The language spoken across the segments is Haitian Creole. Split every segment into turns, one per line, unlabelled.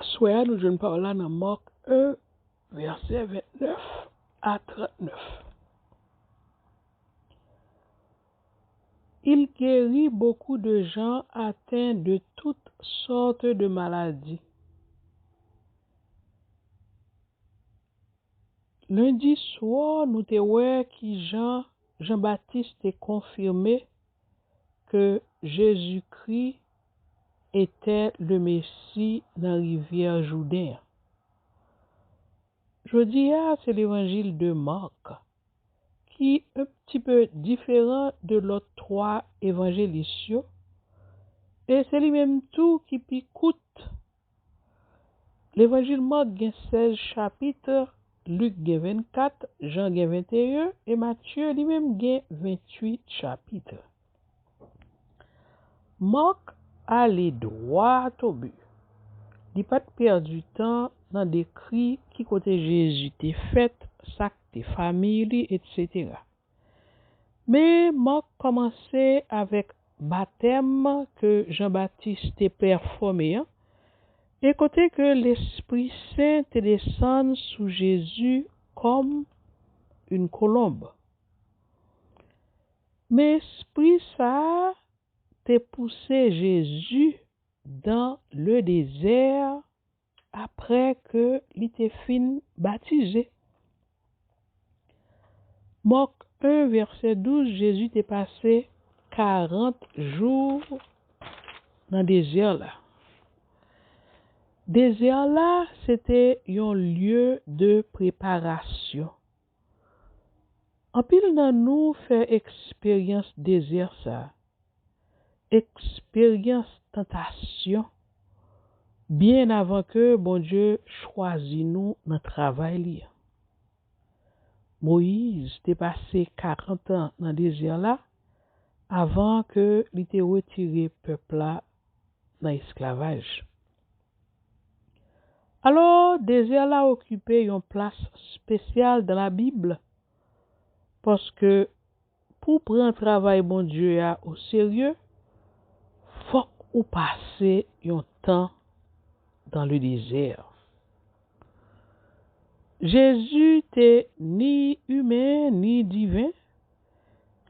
Aswè a nou jwenn pawòl la nan Marc 1 vèsè 29 a 39. Il geri bokou de jan aten de tout sòt de maladi. Lendi swa nou te wè kijan Jean Baptiste te konfime. ke Jezi Kri etè le Mesi nan rivyè Jouden an. Jodi a se levanjil de Marc ki un pti peu diferan de lòt twa evanjelis yo e se li menm tou ki pi kout Levanjil Marc gen 16 chapitre, Luc gen 24, Jean gen 21 e Matthieu li menm gen 28 chapitre. Marc ale dwat o bi. Li pa t pèdi tan nan dekri ki kote Jezi te fèt, sa k te famiy li, etc. Men Marc kòmanse avèk batèm ke Jean-Baptiste te pèfòme an, e kote ke Lespri Sen te desann sou Jezi kòm yn kolonb. Men Espri sa a te pouse Jezi dan le dezè Apre ke li te fin batize. Marc 1 vèsè 12 Jezi te pase karant jou nan dezè la. Dezè la se te yon lye de preparasyon. Anpil nan nou fè eksperyans dezè sa, eksperyans tantasyon byen avan ke Bondye chwazi nou nan travay li an. Moyiz te pase karantan nan dezè la avan ke li te retire pèp la nan esklavaj. Alò, dezè la okipe yon plas spesyal dan la Bib, paske pou pran travay Bondye a oserye, fòk ou pase yon tan dan le dezè. Jezi te ni imen ni diven,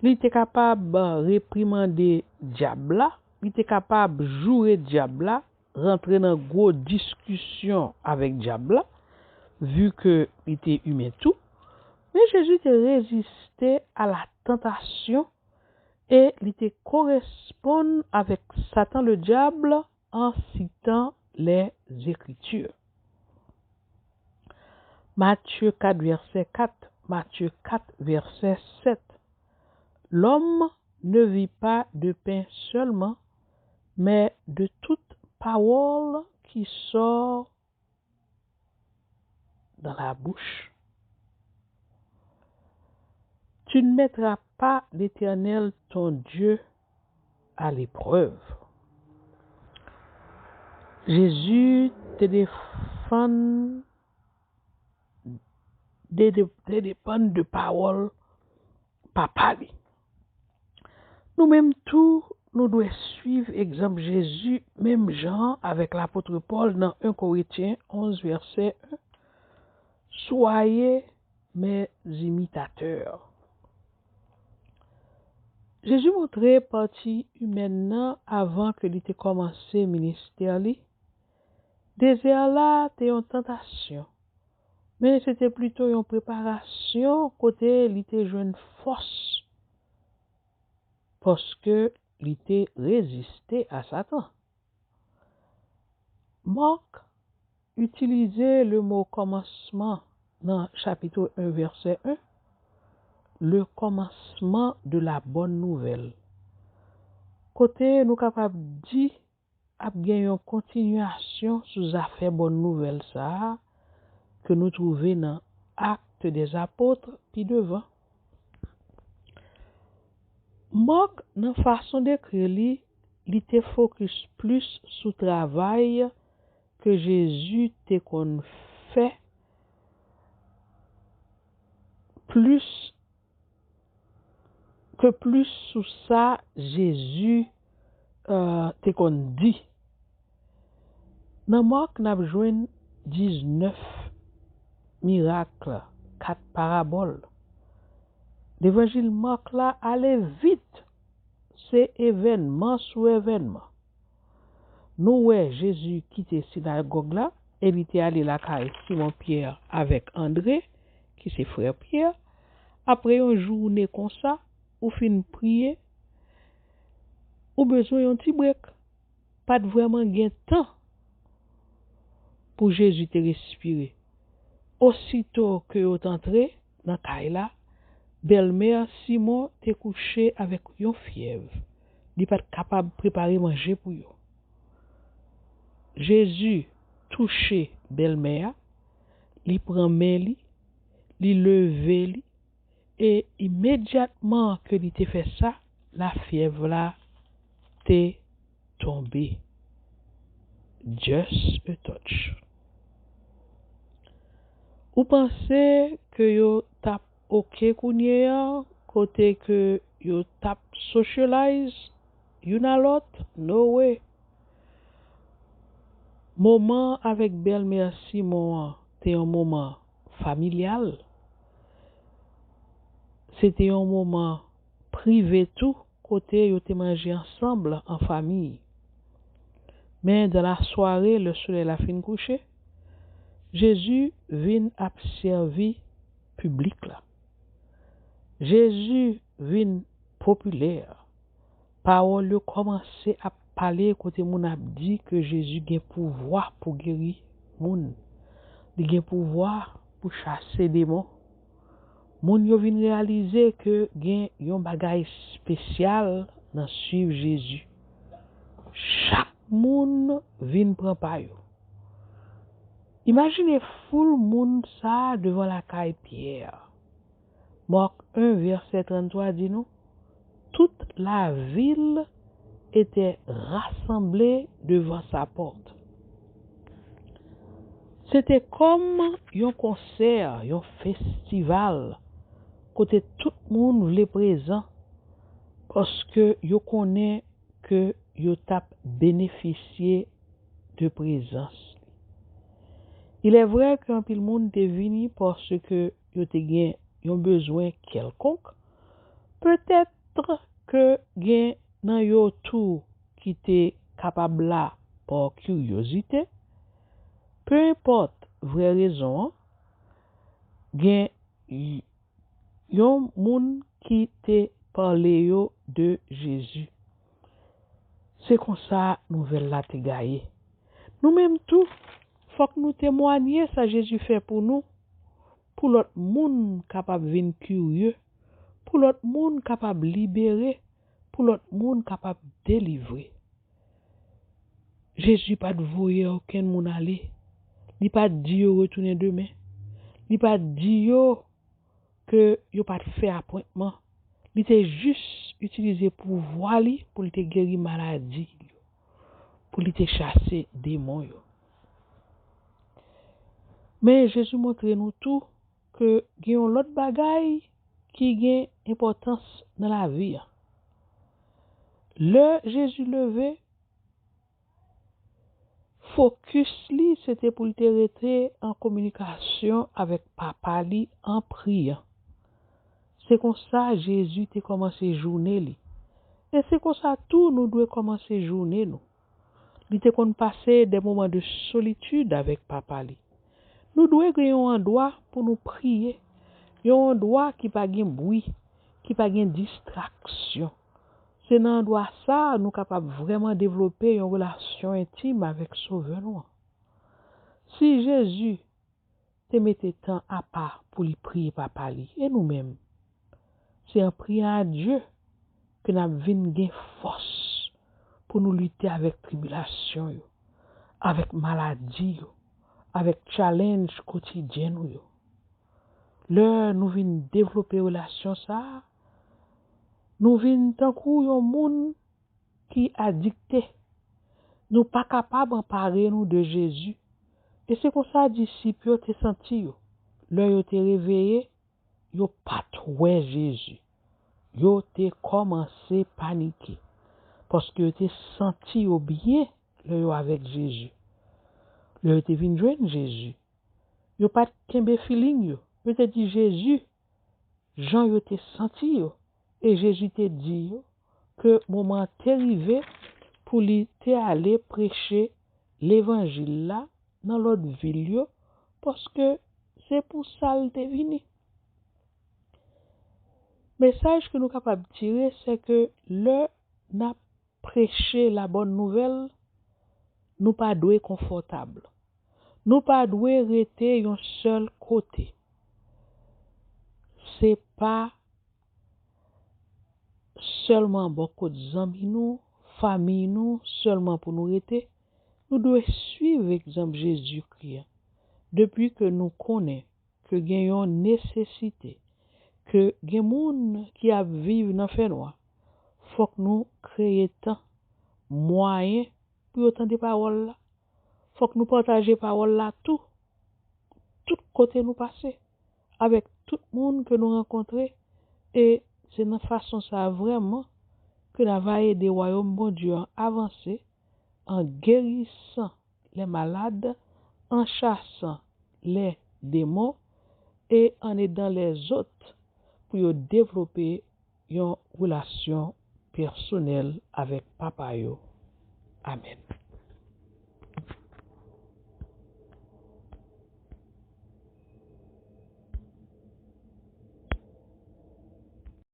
li te kapab reprimande dyab la, li te kapab joure dyab la, rantre nan gwo diskisyon avèk Dyab la, vu ke li te imen tou, men Jezi te reziste a la tantasyon e li te koresponn avèk Satan le Diable an sitan lè Zekritur. Matye 4 vèsè 4 Matye 4 vèsè 7 Lòm ne vi pa de pen sèlman, Men de tout pawòl ki sò dan la bouch Tu ne mettras pas l'Etènèl ton Dye a leprèv Jezi te defann te depann de pawòl Papa li. Nou menm tou, nou dwe suiv egzanp Jezi menm jan avèk lapotre Pòl nan 1 Koretyen xi, vèsè 1, Soyez mes imitateurs. Jezi montre pati imèn nan avan ke li te kòmanse ministè li, Dezè la te yon tantasyon Men se te plito yon preparasyon kote li te jwenn fòs paske li te reziste a Satan. Marc itilize le mo kòmansman nan chapitre 1 vèsè 1, le commencement de la bonne nouvelle, kote nou kapab di Ap gen yon kontinyasyon sou zafè bòn nouvèl sa a ke nou twouve nan Actes des Apôtres pi devan. Marc nan fason dekri li, li te fokis plis sou travay ke Jezi te konn fè plis Peu plus sou sa Jezi te konn di. Nan Marc n ap jwenn 19 miracle, 4 parabòl. Levanjil Marc la ale vit, se evènman sou evènman. Nou wè Jezi kite sinagòg la e li te ale lakay Simon Pyè avèk Andre, ki se frè Pyè. Apre yon joune konsa, ou fin priye, ou bezwen yon ti brek. Pa t vrèman gen tan pou Jezi te respire. Osito ke yo t antre, Nan kay la, bèlmè Simon te kouche avèk yon fyèv, li pa t kapab prepare manje pou yo. Jezi touche bèlmè a, li pran men li, li leve li, e imedyatman ke li te fè sa, lafyèv la te tonbe just a touch ou panse ke yo tap ok kounye a kote ke yo tap socialize youn a lòt no way moman avèk bèl mère Simon an te yon moman familial se te yon moman prive tou. kote yo te manje ansanm an fami. Men dan lasware lè solèy la fin kouche, Jezi vin ap sèvi piblik la. Jezi vin popilè. Pawòl yo kòmanse ap pale kote moun ap di ke Jezi gen pouvwa pou geri moun, li gen pouvwa pou chase demon. moun yo vin reyalize ke gen yon bagay spesyal nan swiv Jezi. Chak moun vin pran pa yo. Imajine foul moun sa a devan lakay Pyè. Marc 1, vèsè 33 di nou, Tout lavil etè rasanble devan sa pòt. Se te kòm yon konsè, yon festival, kote tout moun vle prezan, paske yo konnen ke yo t ap benefisye de prezans li. Ilèvrè ke anpil moun te vini paske. yo te gen yon bezwen kèlkonk, petèt ke gen nan yo tou ki te kapab la pa kiryozite, penenpòt vrè rezon an, gen yon moun ki te pale yo de Jezi. Se konsa nouvèl la te gaye. Nou menm tou, fòk nou temwanye sa Jezi fè pou nou, pou lòt moun kapab vin kirye, pou lòt moun kapab libere, pou lòt moun kapab delivre. Jezi pa t voye okenn moun ale, li pa t di yo retounen demen, li pa t di yo, ke yo pa t fè apwentman, li te jis itilize pouvwa li pou li te geri maladi yo, pou li te chase demon yo. Men Jezi montre nou tou ke gen yon lòt bagay ki gen enpòtans nan lavi an. Lè Jezi leve. Fokis li se te pou l te rete an kominikasyon avèk Papa li an priyan. Se konsa Jezi te kòmanse jounen li, e se konsa tou nou dwe kòmanse jounen nou. Li te konn pase de moman de solitid avèk Papa li. Nou dwe gen yon andwa pou nou priye, yon andwa ki pa gen bwi, ki pa gen distraksyon. Se nan andwa sa a nou kapab vrèman devlope yon relasyon entim avèk Sovè nou an. Si Jezi te mete tan apa pou li priye Papa li, e nou menm? Se an priyan a Dye ke n ap vin gen fòs pou nou lite avèk tribilasyon yo, avèk maladi yo, avèk tchalenj kotidyen nou yo. Lè nou vin devlope relasyon sa a, Nou vin tankou yon moun ki adikte. Nou pa kapab anpare nou de Jezi. E se konsa disip yo te santi yo. Lè yo te reveye, yo pa t wè Jezi. Yo te kòmanse panike, paske yo te santi yo byen lè yo avèk Jezi. Lè yo te vin jwenn Jezi, yo pa t kenbe filing yo. Yo te di Jezi, jan yo te santi yo, e Jezi te di yo ke moman an te rive pou li te ale preche levanjil la nan lòt vil yo, paske se pou sa l te vini. Mesaj ke nou kapab tire sèke lè n ap preche la bòn nouvèl, nou pa dwe konfòtab. Nou pa dwe rete yon sèl kote. Se pa sèlman bò kot zanmi nou, famiy nou sèlman pou nou rete, nou dwe suiv egzanp Jezikri an depi ke nou konnen ke gen yon nesesite, ke gen moun ki ap viv nan fènwa, fòk nou kreye tan, mwayen pou yo tande pawòl la, fòk nou pataje pawòl la tou, tout kote nou pase, avèk tout moun ke nou rankontre, e se nan fason sa a vrèman ke na va ede wayòm Bondye an avanse an gerisan lè malad, an chasan lè demon e an edan lèzot pou yo devlope yon relasyon pèsonèl avèk Papa yo. Amèn.